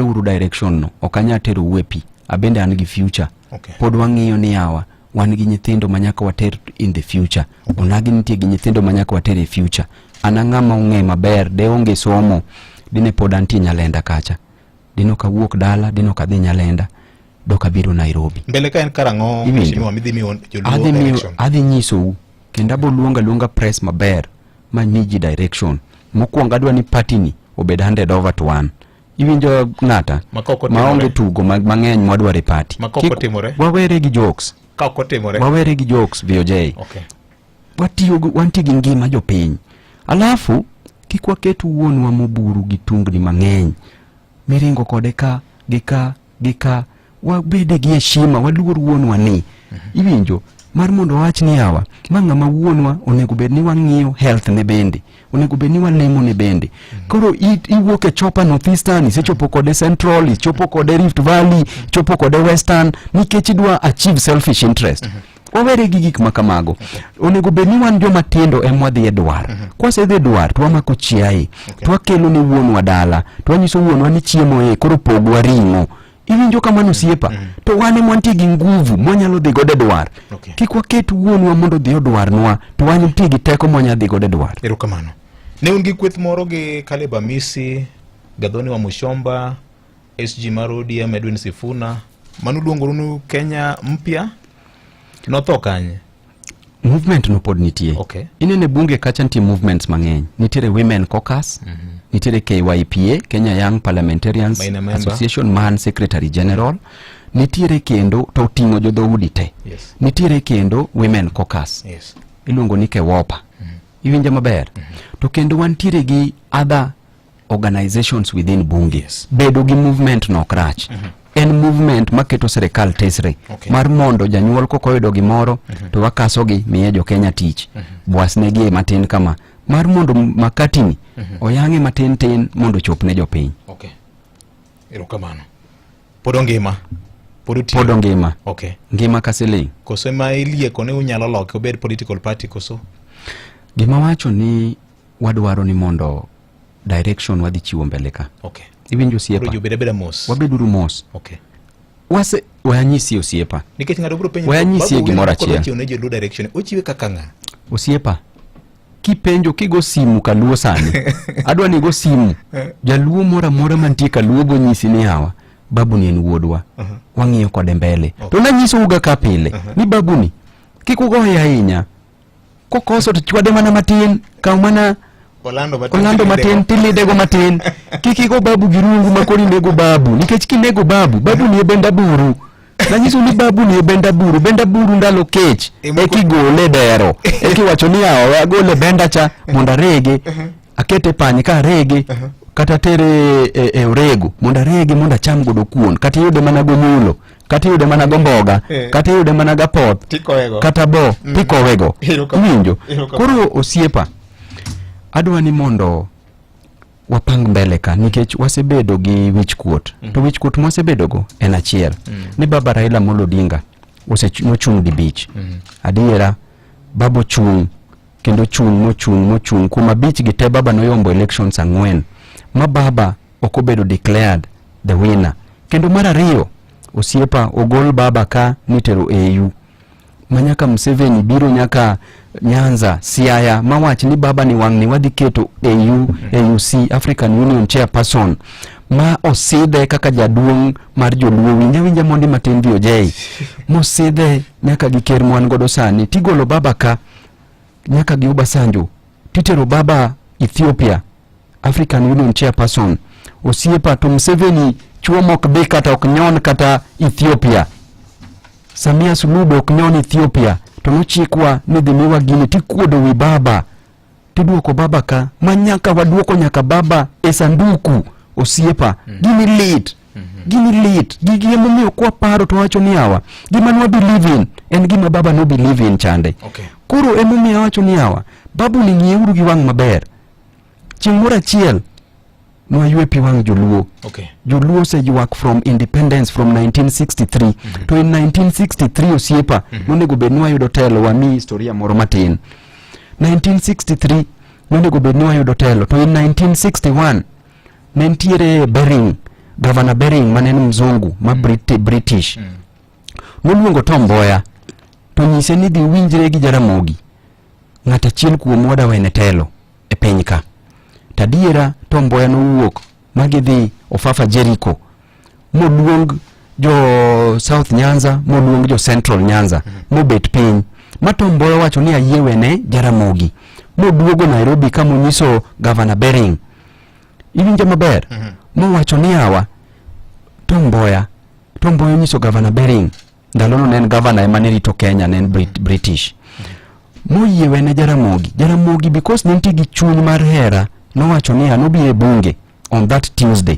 uru direction no ok anya tero uwe pi abende an gi future okay. pod wang'iyo ni yawa wan gi nyithindo ma nyaka water in the future okay. onagi nitie gi nyithindo ma nyaka water e future an ang'a ma ong'e maber de onge somo dine pod antie nyalenda kacha dine ok awuok dala dine ok adhi nyalenda dok abiro nairobi mbele ka en karang'o adhi nyisou kendo aboluonga luonga press maber ma miji direction mokwongo adwa ni patini obed handed over to one iwinjo ng'ata maonge tugo mang'eny mwadwaro e pati wawere gi jokes wawere gi jokes voj okay. wantie gi ngima jopiny alafu kik waket wuonwa moburu gi tungni mang'eny miringo kode ka gi ka gi ka wabede gi heshima waluor wuonwa ni iwinjo mar mondo wawach ni awa ma ng'ama wuonwa onego bed ni wang'iyo health ne bende onego bed ni walemo ne bende koro i- iwuok e chopa northeastern isechopo kode central ichopo kode rift valley ichopo kode western nikech idwa achieve selfish interest wawere gi gik ma kamago onego bed ni wan joma tindo ema wadhi e dwar mhm. kwasedhi e dwar to wamako chiaye to wakelo ne wuonwa dala to wanyiso wuonwa ni chiemo e koro pogwa ring'o iwinjo kamano osiepa mhm. to wan ema wantie gi nguvu mwanyalo dhi godo e dwar kik waket wuonwa mondo odhi odwarnwa to wan nitie gi teko mwanyalo dhi godo e dwar erokamano ne un gi kweth moro gi kaleb amisi gadhoni wa mushomba SG mar ODM Edwin Sifuna mano luongoru ni Kenya mpya notho kanye? Movement no pod nitie. Okay. Inene bunge kacha nitie movements mang'eny. Nitiere Women Caucus, mm -hmm. nitiere KYPA, Kenya Young Parliamentarians Association, man Secretary General. Mm -hmm nitiere kendo to oting'o jodhoudi te yes. nitiere kendo women cocus yes. iluongo ni kewopa mm -hmm. iwinja maber mm -hmm. to kendo wantiere gi other organizations within bunge yes. bedo gi movement no crach mm -hmm. en movement maketo serikal tesre okay. mar mondo janyuol kokoyudo gimoro mm -hmm. to wakasogi miye jokenya tich mm -hmm. bwasnegi e matin kama mar mondo makatini mm -hmm. oyang'e matin tin mondo chop ne jopiny okay. erokamano pod ongima pod ongima okay. ngima ka siling koso ma ilieko ni unyalo loke obed political party koso gima wacho ni wadwaro ni mondo direction wadhi chiwo mbele ka okay. iwinjo osiepa wabeduru mos okay. wase wayanyisi osiepa nikech ng'ato biro penjo wayanyisi gimoro achiel ochiwe kaka ng'a osiepa kipenjo kigo simu kaluo sani adwa ni go simu eh. jaluo moro amora mantie kaluo go nyisi ni hawa babuni en wuodwa uh -huh. wang'iyo kode mbele okay. to nanyisouga ka pile uh -huh. ni babuni kik ugoye ahinya Kokoso to chwade mana matin, kaw mana Orlando matin, Orlando matin tilidego matin. Kik igo babu gi rungu ma kori nego babu, nikech kinego babu, babu ni e benda buru. Nanyiso ni babu ni e benda buru, benda buru ndalo kech e kigole dero. E kiwacho ni awe agole benda cha mondo arege, uh-huh. akete panye ka arege, uh-huh. kata tere e, e orego mondo arege mondo acham godo kuon kata iyude mana gonyulo kata iyude mana gomboga eh. kata iyude mana gapoth kata bo mm. tikowego iwinjo koro osiepa adwa ni mondo wapang mbele ka nikech wasebedo gi wichkuot mm. to wichkuot mwasebedogo en achiel mm. ni baba Raila Amolo Odinga nochung' dibich mm. adiera baba ochung' kendo chung' mochung' mochung' kuom abich gi te baba noyombo elections ang'wen ma baba ok obedo declared the winner. Kendo mar ariyo, osiepa ogol baba ka nitero AU. Manyaka Museveni biro nyaka Nyanza, Siaya mawach ni baba ni wang'ni wadhi keto AU, AUC, African Union Chairperson ma osidhe kaka jaduong' mar joluo winja winja mondi matin VOJ mosidhe nyaka gi ker mwan godo sani tigolo baba ka nyaka gi Obasanjo titero baba Ethiopia African Union Chairperson osiepa to Museveni chuo mok bi kata ok nyon kata Ethiopia. Samia Suluhu be ok nyon Ethiopia to nochikwa ni dhi miwa gini tikuodo wi baba tiduoko baba ka ma nyaka waduoko nyaka baba e sanduku osiepa mm. gini lit mm -hmm. gini lit gigi emomiyo kwa paro to wacho ni awa gima nwa believe in en gima baba no believe in chande okay. koro emomiyo awacho ni awa babu ni ng'ieuru gi wang' maber chieng' moro achiel nwaywe pi wang' joluo okay. joluo oseywak from independence from 1963 mm -hmm. to in 1963 osiepa mm -hmm. nonego bed ni wayudo telo wami historia moro matin 1963 nonego bed ni wayudo telo to in 1961 ne nitiere Bering gavana Bering mane en mzungu ma mm. Briti, British mm. noluongo Tom Mboya to nyise ni dhi winjre gi Jaramogi ng'at achiel kuom oda wene telo e piny ka tadiera to mboya nowuok ma gidhi ofafa jeriko moluong jo south nyanza moluong jo central nyanza mm-hmm. mobet piny ma to mboya wacho ni ayie wene jaramogi moduogo nairobi ka monyiso gavana bering iwinjo maber mm-hmm. mowacho ni awa to mboya to mboya onyiso gavana bering ndalono ne en gavana ema ne rito kenya ne en Brit- british moyiewe ne jaramogi jaramogi because ne nitie gi chuny mar hera nowacho niya nobi e bunge on that tuesday